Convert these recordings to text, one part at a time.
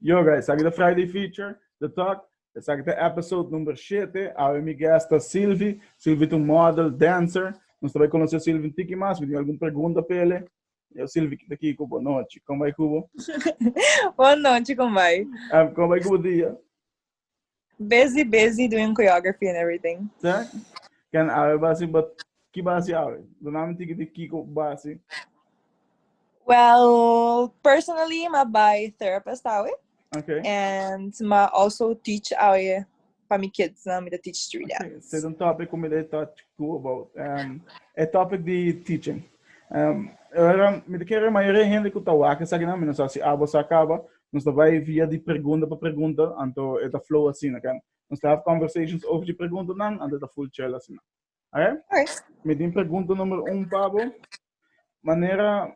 Yo guys, esaki ta Friday feature, the talk. Esaki ta episode number shete. Awe mi guest ta Sylvie. Sylvie ta un model, dancer. Nos ta bai conoce Sylvie un tiki mas. Mi tin algun pregunta pa ele. Yo Sylvie, kita aki cu bo. Nochi, con bai cu bo? Bon nochi, con bai? Con bai cu bo dia? Busy, busy doing choreography and everything. Sa? Can awe basi, but ki basi awe? Duna mi tiki di kiko basi. Well, personally, ma by therapist awe. Okay. And ma also teach awe pa mi kids, na mi da teach street dance. Say the topic kung mi da touch ku about. Um, a topic di teaching. Um, era, mi da kere mayoria hende ku ta waka sa gina, mi no sa si abo sa kaba, Nos ta bai via di pregunda pa pregunda, anto e ta flow asina, oke. Nos ta have conversations over di preguntanan, anto e ta full chel asina. Oke? Oke. Mi tin pregunta number un pa bo. Manera,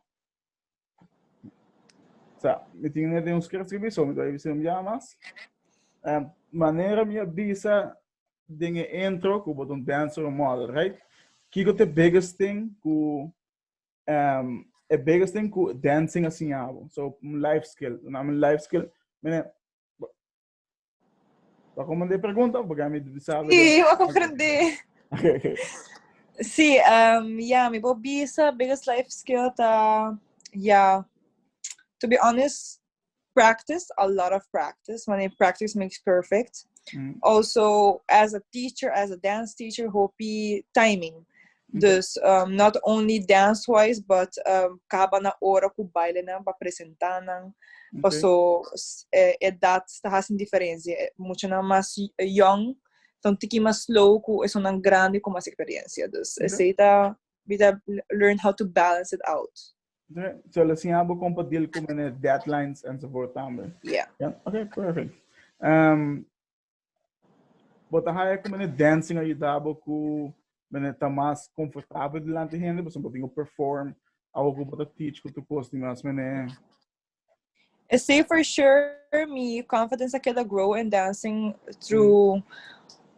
sa, mi tin nete un script scribi, so mi ta bai bisa un biaha mas. Em, manera mi a bisa den e intro, ku bo ta un dancer, un model, right? Kiko te biggest thing ku um, e biggest thing ku dancing a siñabo. So, un life skill. Un naam life skill. Mene, Para como de pregunta, porque a mí sabe. Sí, yo comprendí. Okay, okay. Sí, um, yeah, mi bo bisa biggest life skill ta, yeah, to be honest, practice, a lot of practice. Wanneer practice makes perfect. Mm. Also, as a teacher, as a dance teacher, hopi timing. Okay. Dus um, not only dance wise, but um, kaba na ora ku baile nan pa presenta nan. Okay. Paso eh, edad sta hasin diferencia. Eh, mucho na mas young, ton tiki mas slow ku eso nan grande ku mas experiencia. Dus okay. ese ta, bita learn how to balance it out. Okay, so le siabo como para deal con el deadlines en su por también. Yeah. yeah. Okay, perfect. Um, bota haya como el dancing ayudaba con men está más confortable delante de gente, por ejemplo, tengo perform, algo que bota teach con tu costumbre, men Esey for sure mi confidence a keda grow in dancing through mm.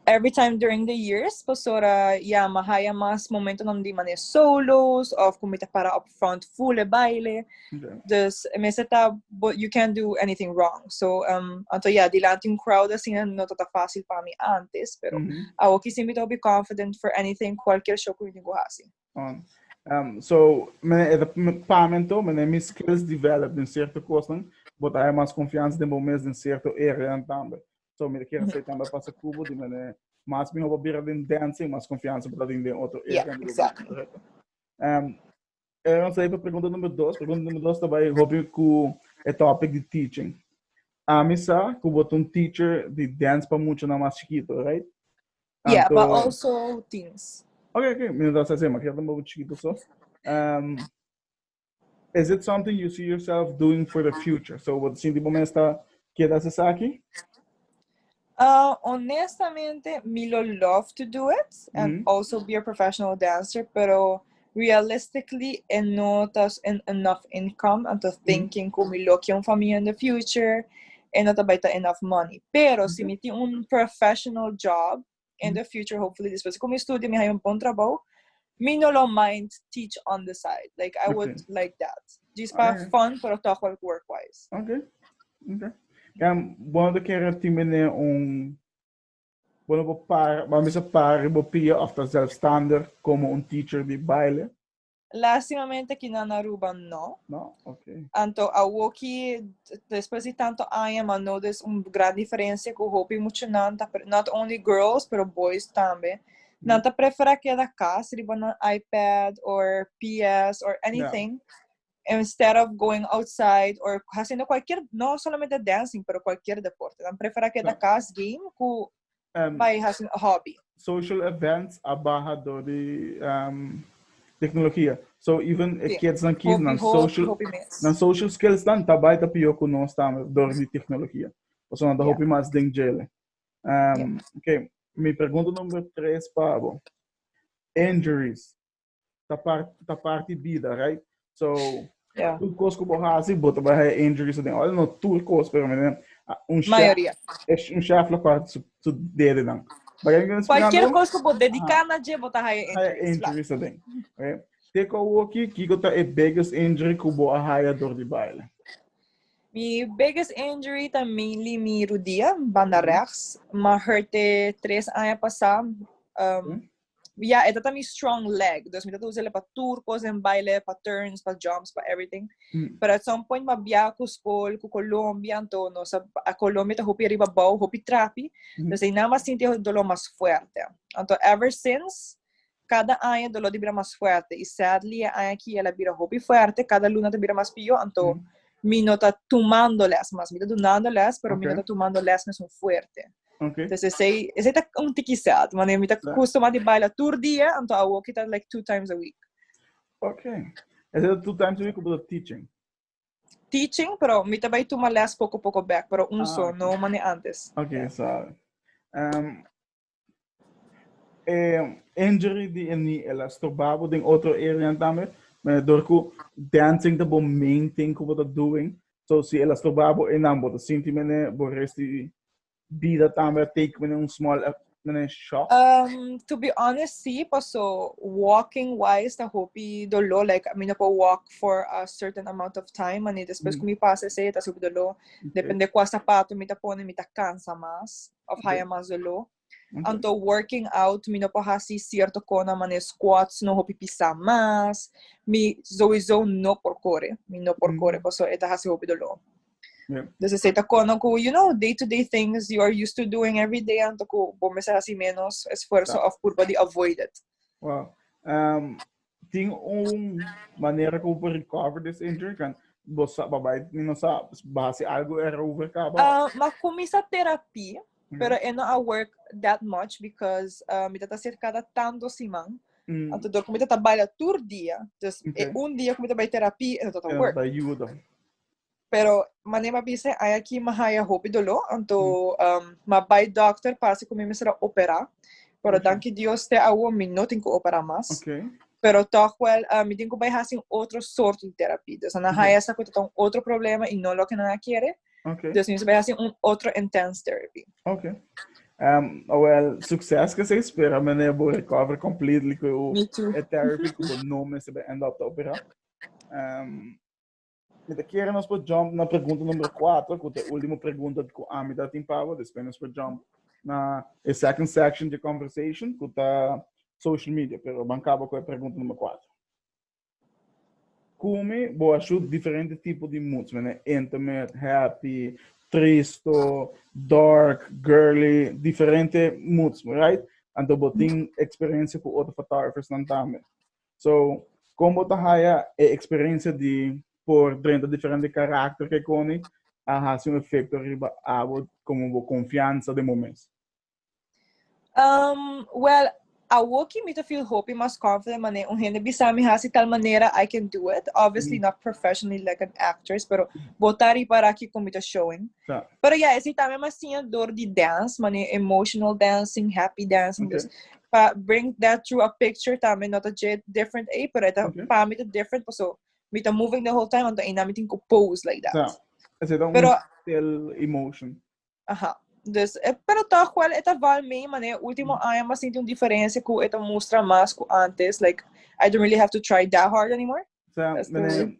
every time during the years pasora ya ma haya mas momento nam di mane solos of kung mita para up front full e baile yeah. dus me seta but you can't do anything wrong so um anto ya yeah, dilanti un crowd assim no tata fácil para mi antes pero mm -hmm. awo kisi mita be confident for anything cualquier show kung mita go hasi Um, um, so, men e pamento, men e mis skills develop den cierto kosten, bot ai mas confianza den bon mes den cierto area tambe. So, men kira sei tambe pasa kubo, di men e mas mi hoba bira den dancing, mas confianza bot den den otro area. Yeah, exactly. Um, era sei pa pregunta number dos, pregunta number dos tabai hobi ku e topic di teaching. Amisa, ku bot un teacher di dance pa mucho na mas chiquito, right? Yeah, Tanto- but also things. Oké, oké. Mi no ta sa se, maar ik heb een bobo chiquito zo. Um, is it something you see yourself doing for the future? So, wat sinti bo mesta queda se saki? Uh, honestamente, Milo love to do it and Mhm. also be a professional dancer, pero realistically e no ta en enough income anto mm. thinking ku mi lo un familia in the future e no ta bai ta enough money pero mm -hmm. si mi tin un professional job in the future hopefully después ku mi studio mi hay un bon trabajo mi no lo mind teach on the side like I okay. would like that just para right. fun pero toch wel work wise okay okay dan bodo kere timene un Bo no por para, bo a mester para riba bo pia of ta zelfstander como un teacher di baile? Lastimamente aki na Aruba no. No? Ok. Anto awoki, despues di tanto aña, ma notice un gran diferencia cu hopi muchanan, ta pre- not only girls, pero boys tambe. Nan ta prefera keda cas riba nan iPad or PS or anything. instead of going outside or haciendo cualquier, no solamente dancing, pero cualquier deporte. Dan prefera keda so, cas game ku um, by haciendo hobby. Social events a baha do di um, tecnología. So even sí. kids dan kids dan social, hopi dan social skills dan ta baita pio ku nos tambe do di tecnología. Por so dan yeah. hopi mas den jele. Um, yeah. Okay. Mi pregunta number tres, Pabo. Injuries. ta part ta parte vida right so yeah. tur cos que vos hace vos te vai injuries den all no tur cos pero men un chef es un chef la parte su su dede dan Cualquier cosa que vos dedicar na je vos ta haya injuries den okay te ko woki kiko ta e biggest injury ku bo haya dor di baile Mi biggest injury ta mainly mi rudia, banda rechts. Me hurte tres años pasado. Um, ya e tata mi strong leg dus mi tata usa el pa tur cos den baile pa turns pa jumps pa everything mm. pero at some point ma bia cu school cu Colombia to no sa a Colombia ta hopi arriba bau hopi trapi mm. dus e na mas sinti dolor mas fuerte anto ever since cada año dolor di bira mas fuerte y sadly e año aquí ela bira hopi fuerte cada luna ta bira mas pio anto mm. mi no ta tomando les mas mi ta donando les pero okay. mi no ta tomando les mes un fuerte Okay. Entonces, ese, ese está un tiki sad. Mane, mi está claro. justo más de baila tur día, entonces a walk está like two times a week. Okay. Ese está two times a week como teaching? Teaching, pero mi está vai tomar les poco poco back, pero un ah, so, okay. no mane antes. Okay, yeah. so. Um, eh, injury di eni elastobabo den otro area también, maar door ku dancing the main thing ku wat doing. So si el a stoba bo enan bo ta sinti mene bo resti bida tambe a take mene un small mene shock? Um, to be honest, sí, paso walking wise ta hopi dolor, like mi no por walk for a certain amount of time, mani después mm. ku mi pasa ese, ta super dolor. Okay. Depende kua zapato mi ta pone, mi ta cansa mas, of haya mas dolor. Anto working out, mi no por hasi cierto cona, mane squats no hopi pisa mas, mi sowieso no por core, mi no por core, mm. paso e ta hasi hopi dolor. Yeah. Dus esei ta cona cu, you know, day-to-day things you are used to doing every day, anto cu bo mesa hasi menos esfuerzo of purba di avoid it. Wow. Um, tin un manera ku por recover this injury kan bo sa babai ni no sa basi algo er over kaba. Uh, ma kumisa terapi, mm. pero e no a work that much because uh, mi tata ser cada tanto siman. Mm. Anto dor kumita ta baila tur dia, dus okay. e un dia kumita bai terapi e no tata work. Ayuda. Pero mané ma bisa ay aki ma haya hopi dolo, anto um, ma bay dokter pasi ku mi mi sera opera. Pero okay. danki Dios te awo mi no tin ku opera mas. Okay. Pero toch wel, uh, mi tin ku bay hasin otro sort di terapia. Dus na haya sa ku ton otro problema i no lo ke na kere. Okay. Dus mi bay hasin un otro intense therapy. Okay. Um, oh, well, succes que se espera, meneer Bo recover completely com o therapy que o nome se vai end up te operar. Um, Mi ta kere nos por jump na pregunta numero kuater, ku ta e último pregunta ku ami ta tin power, despues nos por jump na e second section di e conversation, ku ta social media. Pero ban kaba ku e pregunta numero kuater. Kome bo a shut diferente tipo di moods, mene? Intimate, happy, tristo, dark, girly, diferente moods, right? Anto bo tin eksperensia ku otro photographersnan tambe. So, kon bo ta haya e experiencia di por drenta diferente karakter ke koni a hasi un efekto riba abo komo bo konfiansa den bo mes? Um, well, awoki mi ta feel hopi mas confident mane un hende bisa mi hasi tal manera I can do it. Obviously mm. not professionally like an actress, pero bota ripara ki con mi ta showing. Ta. Pero ya, esei tambe mas siña dor di dance, mane emotional dancing, happy dancing. Okay. Dus, pa bring that through a picture tambe, no ta dje different ei, pero eta, okay. pa mi ta different, paso, mi ta moving the whole time, anto eina mi tin ku pose like that. Ta. Esei ta pero, un still emotion. Aha. Dus, e, pero toch wel, eta val mee, mane ultimo mm. aña mas sinti un diferencia ku eta mustra mas ku antes, like, I don't really have to try that hard anymore. Ta, mane,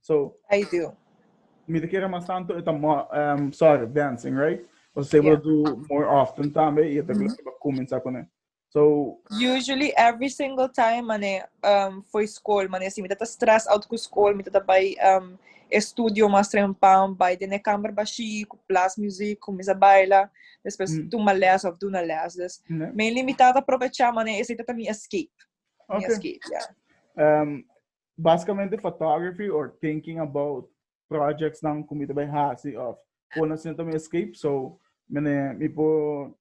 So, I do. Mi te kere mas tanto eta mo, um, sorry, dancing, right? O se yeah. do more often tambe y eta mm -hmm. comenzar con So usually every single time mane um for school mane si mi tata stress out ku school mi tata by um estudio mas trempam by de kamer bashi ku plus music ku misa baila después mm. tuma les of doen les dus mm. Mm-hmm. mainly mi tata aprovecha mane ese tata mi escape okay. mi escape yeah. um Basikamente photography or thinking about projectsnan ku mi ta bai hasi of kon asina ta mi escape so mene mi por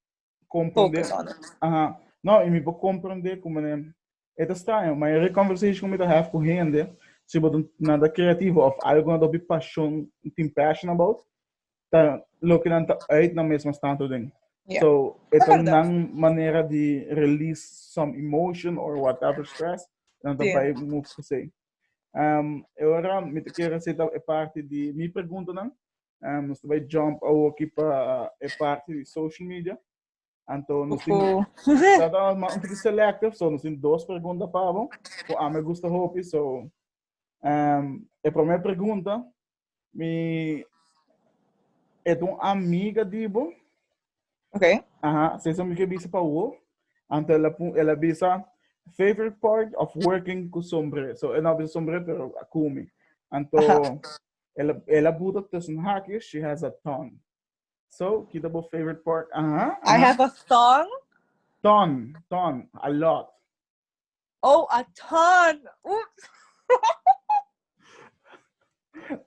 comprende Focus on it. aha no i mi por comprende ku mene e ta straño mayoria conversation ku mi ta have ku hende si bo ta nan ta creativo of algo nan ta hopi pasion tin passion about ta loke nan ta uit na mesma stato den. Yeah. So, e ta nan manera di release some emotion or whatever stress, nan ta bai move per se. Um, e ora mi te kere seta e parte di mi pregunta nan, um, nos ta bai jump a woki pa e parte di social media. Anto nos tin trata mas un poquito selective, so nos tin dos pregunta para bo, cu a me gusta hopi, so um, e primer pregunta, mi et un amiga di bo. Okay. Aha, se so mi ke bisa pa wo, anto ela, ela bisa favorite part of working ku sombre. So ela bisa sombre pero akumi. Anto ela ela buta tussen hakjes, she has a ton. So, kita bo favorite part. Aha. I have a song. Ton, ton, a lot. Oh, a ton. Oops.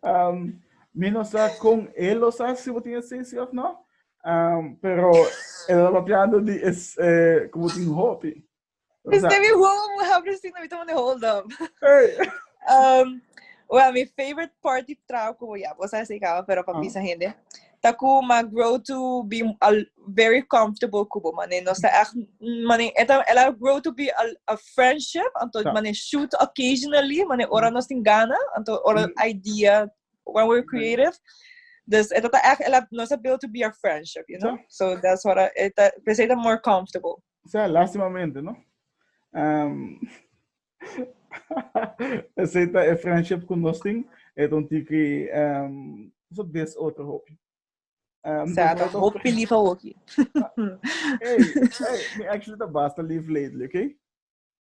um, mi no sa con él lo sa si tiene sesi of no. Um, pero el lo papiando di es eh, como tin hopi. Is de mi home, we have received na mi tamo de hold up. um, well, my favorite party trago como ya, vos sabes que pero para pisa gente. Taku ma grow to be a, very comfortable kubo mane no sa echt mane eta ela grow to be a, a friendship anto yeah. mane shoot occasionally mane ora nos tin gana anto ora mm. idea when we're creative dus eta ta echt ela nos build to be a friendship you know yeah. so that's what I, eta peseta more comfortable O sea, lastimamente, no? Um, aceita e friendship con nos ting, e ton tiki, um, so des otro hopi. Um, Sa, da hopi lief a hoki. hey, hey, me actually da basta lief lately, okay?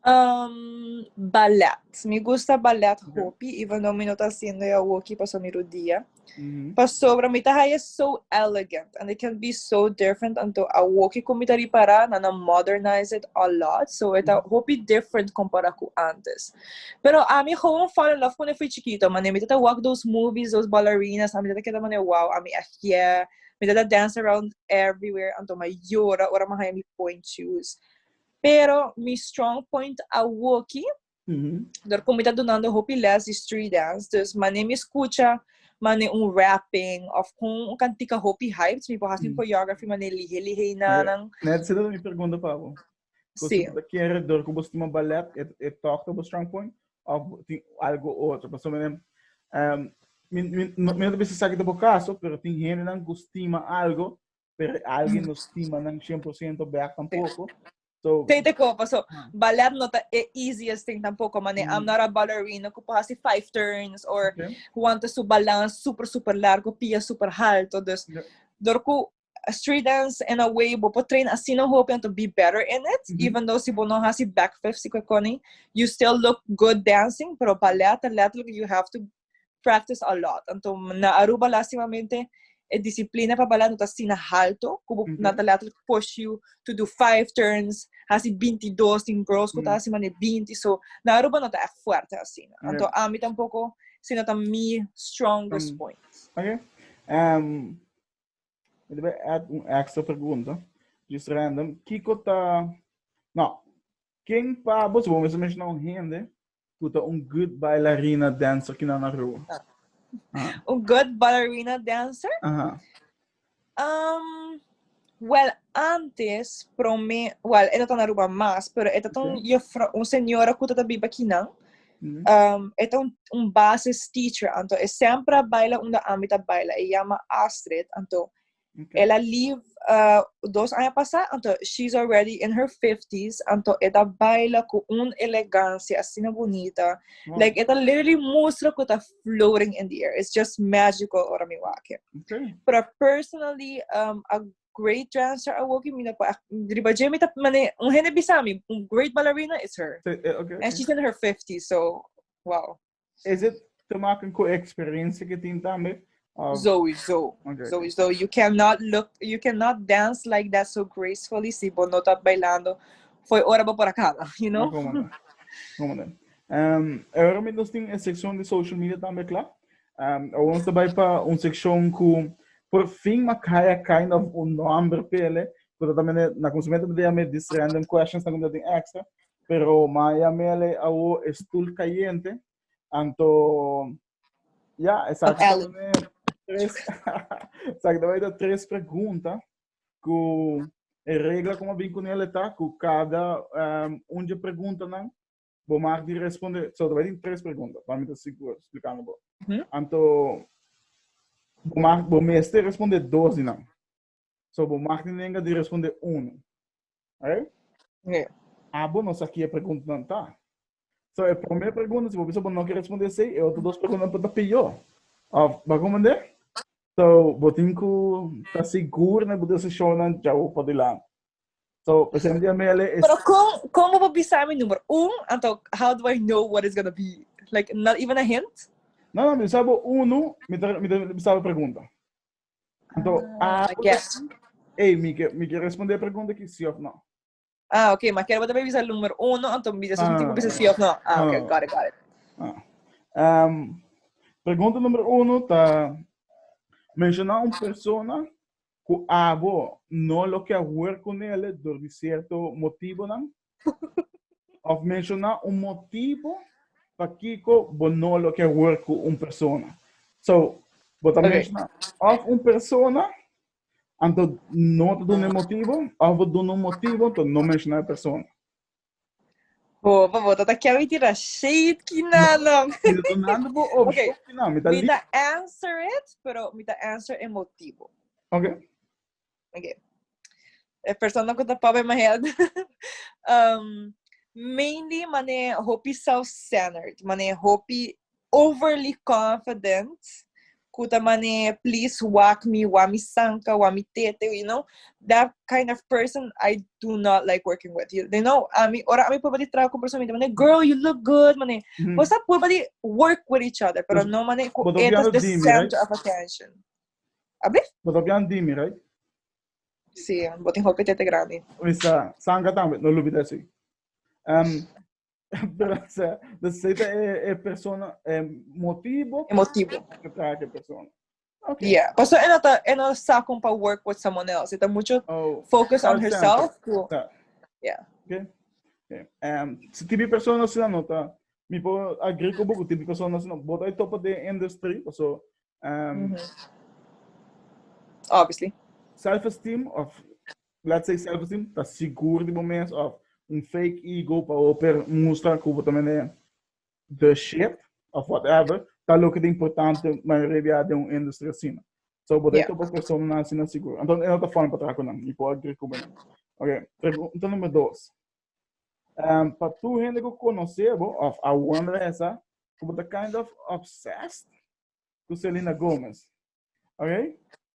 Um, ballet. Mi gusta ballet okay. hopi, even though mi no ta haciendo ya hockey paso mi rodilla. Mm -hmm. Pasobra mi ta haya so elegant and it can be so different anto a hockey con mi ta ripara na na modernize it a lot. So it mm -hmm. hopi different compara cu antes. Pero a mi gewoon fall in love con e fui chiquito. Mane mi ta walk those movies, those ballerinas. A mi ta keda mane wow, a mi echt yeah. Mi ta ta dance around everywhere anto mi a yora ora mi a haña mi point shoes. Pero mi strong point a woki, dor ku mi ta dunando hopi lès di street dance. Dus mane mi skucha, mane un rapping òf kon un kantika hopi hyped, mi por hasi un choreography mane lihe lihe i nanan. Nèt esei lo mi pergunta pa bo. Entonces, sí. Pues, ¿Qué redor que vos estima ballet? ¿Es e, e toque vos strong point? ¿O algo otro? Pues, um, no, no te saque de caso, pero tem gente que estima algo, pero alguien mm. no estima 100% back tampoco. So, Tem de copa, so, ah. ballet no tá é easiest thing tampouco, mas mm. I'm not a ballerina que pode fazer five turns, or okay. want su balance super, super largo, pia super alto, dus, yeah. dor ku street dance in a way bo por train así no hope to be better in it mm -hmm. even though si bo no hasi back fifth si koni you still look good dancing pero ballet ta letterlijk you have to practice a lot anto na Aruba lastimamente e disciplina pa ballet no ta así na halto ku bo mm -hmm. na ta letterlijk push you to do five turns hasi binti dos tin girls ku mm -hmm. ta hasi mane binti so na Aruba no ta echt fuerte así no anto yeah. ami tampoco si no ta mi strongest mm -hmm. point okay um Mi debe add un extra pregunta. Just random. Kiko ta... Nou, ken pa bos bo mes menshona un hende ku ta un good bailarina dancer ki nan a ro? Un good ballerina dancer? Aha. Um, well, antes, prome, well, e no ta na Aruba mas, pero e ta ta un Okay. jefra, un señora ku ta ta biba kinan. Um, e ta un, un basis teacher, anto e sempre a baila unda ami ta baila. E llama Astrid, anto okay. ela leave uh, dos años pasado, anto she's already in her 50s, anto e ta baila con un elegancia así na bonita. Wow. Like, e ta literally mustra que ta floating in the air. It's just magical ora mi wake. Okay. Pero personally, um, a great dancer a woki mina pa riba je mi ta mane un hende bisa mi un great ballerina is her so, uh, okay, and she's in her 50 so wow is it te maken ku experiencia ke tin tambe um, Zoe Zoe okay. Zoe Zoe you cannot look you cannot dance like that so gracefully si bo no ta bailando foi ora bo por acaba you know como no como no um ahora mi nos tin sección de social media tambe klaar Um, awor ons ta bai pa un sekshon ku por fin Makaya kind of un nomber pele, pero tamene na konsumente ta dea me dis random questions na kunta tin extra, pero Maya mele awor e stoel kayente, anto ja, esaki ta mene tres, esaki ta bai ta tres pregunta ku e regla ku ma bin kunele ta ku kada um, unje pregunta nan Bo mag di responde, so ta bai tin tres pregunta, pa mi ta sigur splikando bo. Mhm. Anto, bo mag, bo mester responde dos di nan. So bo mag tin lenga di responde uno. Right? Oké. Abo no sa kia preguntanan ta. So e promé pregunta, si bo bisa bo no ke responde esei, e otro dos preguntanan por ta pió. Of, bo a komprendé? So, bo tin ku ta sigur na bo desishonnan djau padilanti. So, ese un día me ale... Pero como, como bo bisa mi número? Un, anto, how do I know what it's gonna be? Like, not even a hint? No, no, mi bisa bo uno, mi ta, mi ta bisa bo pregunta. Anto, ah, I guess. Hey, mi que, mi que responder pregunta que sí of no. Ah, ok, maar quiero botar bisa número uno, anto mi bisa un tipo bisa sí of no. Ah, ok, got it, got it. Ah. Um, pregunta número uno ta... Menciona un persona ku ago no lo ke hoer ku nele dor di sierto motibonan? Òf menshoná un motibo pakiko bo no lo ke hoer ku un persona. So, bo ta menshoná òf un persona, anto no ta duna e motibo, òf bo duna un motibo, anto no menshoná e persona. Bo, bo, bo, ta ta kiawi tira shade ki na long. Mira tu nando bo op Okay. ki na, mi ta Mi li. ta answer it, pero mi ta answer e motivo. Okay. Okay. E persona ku ta papa my head. um, mainly mane hopi self-centered, mane hopi overly confident cu ta mane please wak mi wak mi sanka wak mi tete you know that kind of person I do not like working with you you know ami ora ami purba di traha cu un persona mi ta mane girl you look good mane mm. bosa purba di work with each other pero no mane cu But etas the dimi, center right? of attention abi But op jan dimi right si botin hopi tete grande Misa sanka tambe no lubita si um, Braza. Dus ey ta e, e persona, e motibo pa Emotivo. e traha ke persona. Ok. Yeah. Paso en ata en a sakon pa work with someone else. Ita mucho Oh, focus on Call center. herself. ku- ta. Yeah. Okay. Okay. Um, si tibi persona sina no ta, mi por agree con boku, tibi persona sina, bot ay topa de industry, paso, um, Mhm. Obviously. self-esteem of Laat sei selfesteem ta sigur di bo mes of un fake ego pa bo per mustra cu bo ta mende the shit of whatever ta loke ta importante mayoria di a den un industry asina. So bo ta yeah. topa personanan asina sigur. Anto e no ta fun pa traha cu nan, mi por agree cu bonan. Ok, pregunta number dos. Um, pa tu hende cu conoce bo of a wonder esa, cu bo ta kind of obsessed cu Selena Gomez. Ok?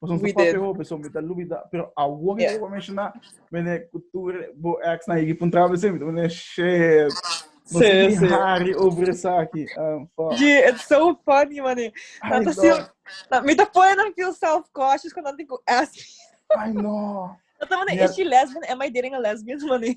Pues un We did. hope so mita lubida. Pero a wo Yeah. yeah. mencionar mene cultura bo ex na higi puntra be semi. Mene shit. No Sí, sé sí. hari over esa aquí. Um, fuck. Yeah, it's so funny, mane. I Tanto know. sil... Na, mi te pone na feel self-conscious kung nanti ku ask. I know. Dat mane, Yeah. is she lesbian? Am I dating a lesbian, mane?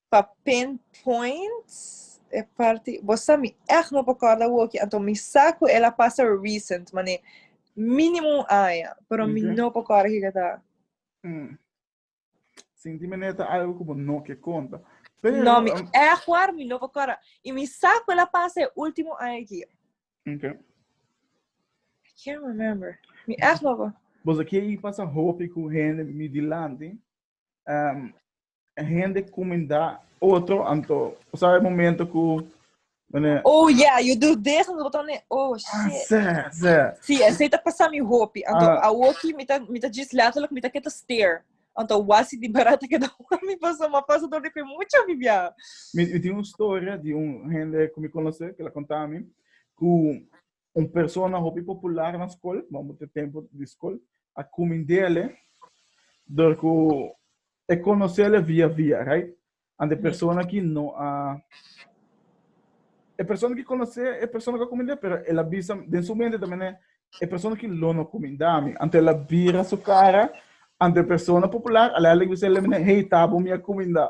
Pa pin point e parti bo sa mi echt no por corda woki anto mi sa cu el a pasa recent mane minimo un aña pero mi Oké. no por corda kico ta Mm. Sinti me neta algo como no que conta. Pero, no mi um, echt waar mi no por corda y mi sa cu el a pasa e ultimo aña aquí ok. I can't remember mi echt no por Bosa kier i pasa hopi ku hende mi dilanti. um, hende comendá otro, anto, sabe momento ku Wanneer... Oh ja, yeah, je doet deze en dan nee. Oh ah, shit. Ah, ze, ze. Zie, en zij dat pas aan mijn hoopje. En dan awoki, met dat, met dat juist letterlijk, met dat kette steer. En dan was die barat ik dat wami pas, maar pas door de mucho vivia. Met met die story die un hende kom ik konosse, que la contami, ku Un persona hopi popular na skol, bambo te tempu di skol, a kumindele dor ku e konosele via via, right? And e persona ki no a e persona ki konosé e persona ku a kumindé pero el a bisa den su mente ta mene e persona ki lo no kuminda mi, anto el a bira su kara ante e persona popular a lei a lei bisa el mene hey tabo mi a kuminda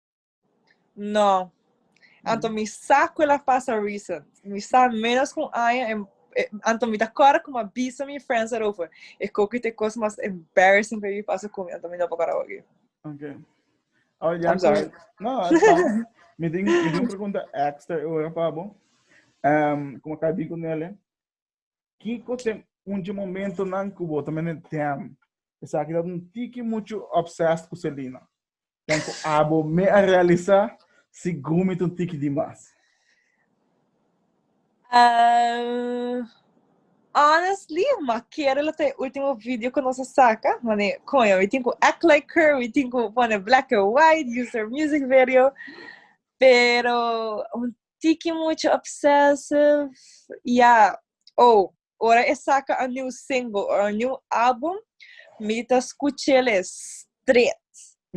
No. Anto mm. mi sa cu la pasa recent. Mi sa menos cu un año en eh, anto mi ta cora como avisa mi friends erover. E coque te cos mas embarrassing que mi pasa con mi, anto mi no pa cora hoy. Okay. Oh, ya I'm sorry. No, it's fine. mi ding, mi ding pregunta extra ahora, Pabo. Um, como acá digo nele, Kiko ta un dje momentonan ku bo ta mene dèm? Esaki ta un tiki muchu obsessed ku Selena. Den ku abo mi a realisá si Gumi ta un tiki di mas? Ehm, honestly, m'a kere lo ta e ultimo video ku nos a saka, mane koño, mi tin ku act like her, mi tin ku pone black and white, use her music video, pero un tiki mucha obsessive ya oh ora e saka a new single or a new album mi ta skuchele stret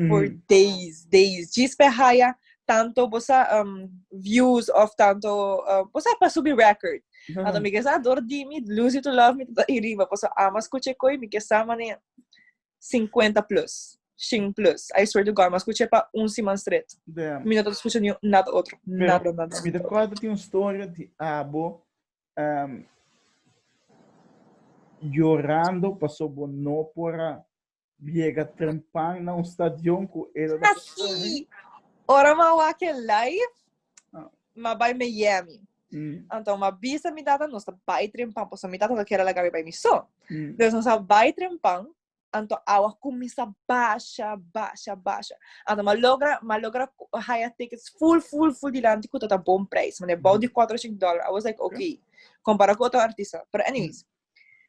for days days djis pa e haya tanto bo sa views of tanto bo sa pa subi record anto mi ke sa dor dimi lose you to love me ta iriba pasobra ama skucha e koe mi ke sa manera 50 plus, shin plus. I swear to God, mas escuché pa un siman straight. Damn. Mi no ta escuché ni nada otro. Pero, Nada, nada. mi te corta tin un storia di abo em, llorando paso bo no por a llega trempan na un stadion cu el a Así. Ora ma wak e live, ma bai Miami. Mm. Anto ma bisa mi tata nos ta bai trempan, poso mi tata no kera laga mi bai mi so. Mm. Dus nos ta bai trempan, anto awa kumisa basha, basha, basha. Anto ma logra, ma logra haya tickets full, full, full dilanti ku tata bon prijs. Mane bou di 4 dollar. I was like, okay. Compara ku otro artista. Pero anyways, mm.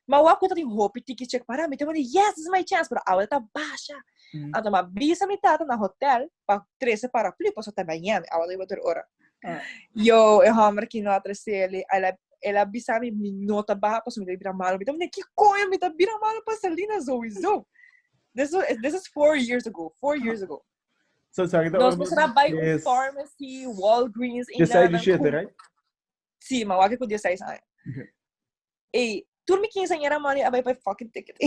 Ma wak ku ta tin hopi tiki chek para mi, te wende, yes, this is my chance, pero awe ta basha. Mm. Anto ma bisa mi tata na hotel pa trese paraplu, paso ta baña mi, awe ta tur ora. Ah. Yo, e homber ki no a treseli, el, el a bisa mi, mi no ta baha, paso mi ta bira malo. Mi ta wende, ki koño mi ta bira malo pa Salina zoizo? This was, this is four years ago, four years ago. So, so kita Nos ora para bai un pharmacy, Walgreens, e Desai di shete, right? Si, ma wak ku desai sa. Ey, tur mi quinceañera money a bay pay fucking ticket.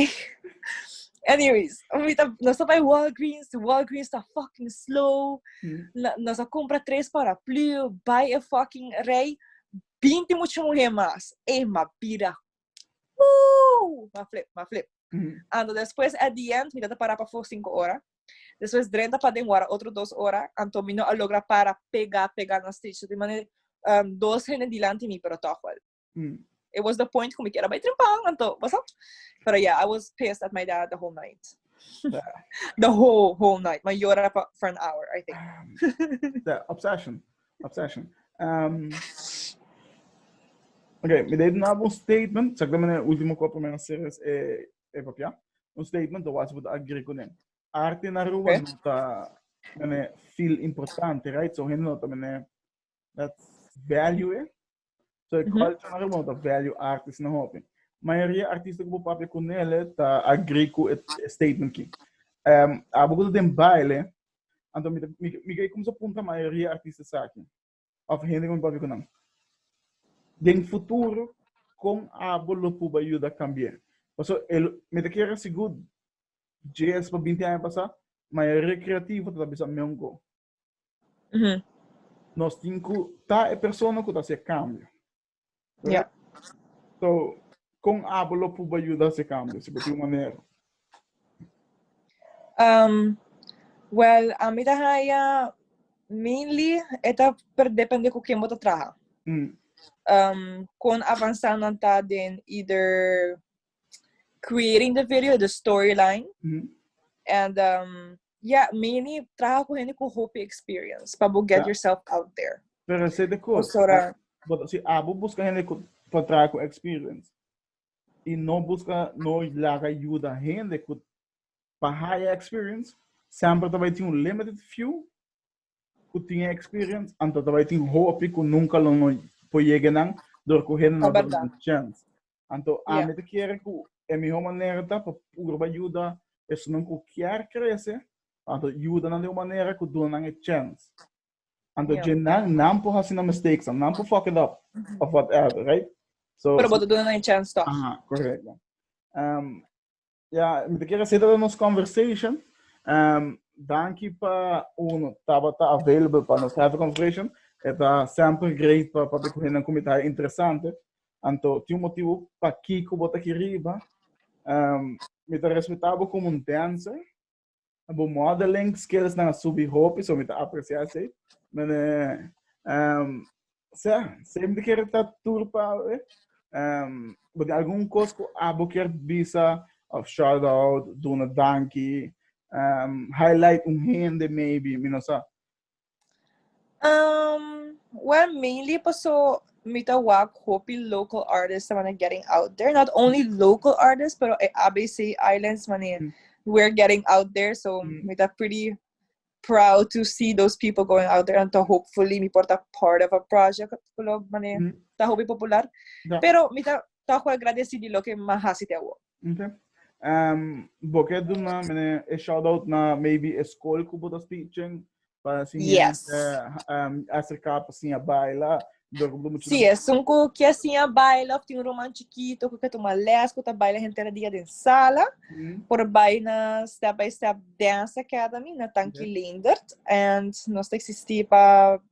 Anyways, ahorita nos está bij Walgreens. De Walgreens está fucking slow. Mm. Na, nos a compra tres paraplu. Bij een fucking rij. 20 mucho mujer más. Ey, ma pira. Woo! Ma flip, ma flip. Mm. Ando después, at the end, mi data para pa voor 5 horas. Después, drenta pa den wara otro 2 horas. Anto mi no a logra para pega, pega na stage. De manera, um, dos hende delante mi, pero toch wel. Mm. It was the point ku mi kera bai trimpang anto, what's up? Pero yeah, I was pissed at my dad the whole night. the whole whole night. My yora for, for an hour, I think. Um, the obsession, obsession. Um, okay, me deed na un statement. Zeg me een último kop mijn series e e papia. Un statement dat was moet agree kunnen. Arte na Aruba okay. nota mene feel importante, right? So hende nota mene dat value e. So e culture na rebono ta value artist na hopi. Mayoria artista ku bo papia ku nele ta agree ku e statement ki. Um, abo ku den baile, anto mi, mi, mi kei kumsa punta mayoria artista saki. Of hende ku mi papia ku nan. Den futuro, kon abo lo puba yuda kambia? Paso, el, mi ta kera sigur, jes pa binti aña pasa, mayoria kreativo ta bisa meon go. Mm-hmm. Nos tin ku ta e persona ku ta se kambio. Ja. So, kon abo lo puba yuda se kambio, si bo tin un manera? Um, well, a mi ta haya mainly e ta per depende ku ken bo ta traha. Mm. Um, kon avansa nan ta den either creating the video, the storyline. Mm -hmm. And um, yeah, mainly trabajo con gente con hopi experience para get yeah. yourself out there. Pero ese de cosas. Ahora, pero si abo busca gente con trabajo con experience y no busca, no la ayuda gente con para high experience, siempre te va a tener un limited few que tiene experience, antes te va a tener hopi que nunca lo no puede llegar a recoger una chance. Anto yeah. ami te kere ku e mihó manera ta pa purba yuda esnan ku kier krese, anto yuda nan de un manera ku duna nan e chance. Anto yeah. jenan nan po hasi na mistakes, nan po fuck it up, mm -hmm. of whatever, right? So, Pero boto duna nan e chance toch? Aha, correcto. Um, Ya, mi te kere seta nos conversation. Um, danki pa uno tabata available pa nos have conversation. Eta sempre great pa pa te kuhen na kumita interesante. Anto, ti un motivo pa kiko bota ki riba. Um, mi te respetabo como un dancer. Bo modeling skillsnan a subi hopi, so mi ta aprecia esei. Men, um, sea, sempre quiere ta tur pa, eh? Um, bo tem algun cos cu abo quer bisa, of shout out, duna danki, um, highlight un hende maybe, mi no sa. Um, well, mainly paso mi ta wak hopi local artists that are getting out there. Not only local artists, pero e ABC Islands mane mm. we're getting out there. So mm. mi ta pretty proud to see those people going out there and to hopefully mi porta part of a project kulo mane mm. ta hopi popular. Yeah. Pero mi ta ta agradecido lo que mahasi te wak. Ok. Um, bo ke doen na mene e shout out na maybe e school ku bo ta teaching para si yes. uh, um, acerca para sin baila Sí, es un cu que assim a baila, tem um romance chiquito, que quer tomar les, que tá baila gente era dia de sala, mm. por baile na Step by Step Dance Academy, na Tanki yeah. Lindert, and nós tá existir para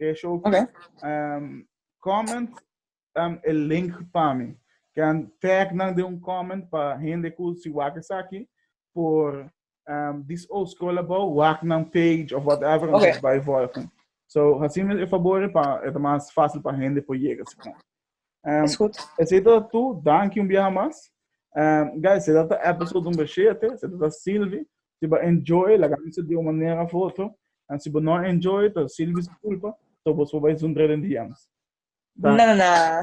Ke show Okay. um, comment um, e link pa mi. Can tag nan de un comment pa hende ku si wak esaki por um, dis o scroll about wak nan page of whatever Okay. okay. by volgen. So hasim e favor pa e ta mas fácil pa hende por llega si kon. Um, Is goed. Esito toe, dank je een biaha mas. Um, guys, se dat episode nummer 7, se dat Sylvie. Si ba enjoy, la camisa de uma manera foto. En si ba no enjoy, to Sylvie se culpa, to vos voor bij zo'n drillen DM's. Dank. Na na na.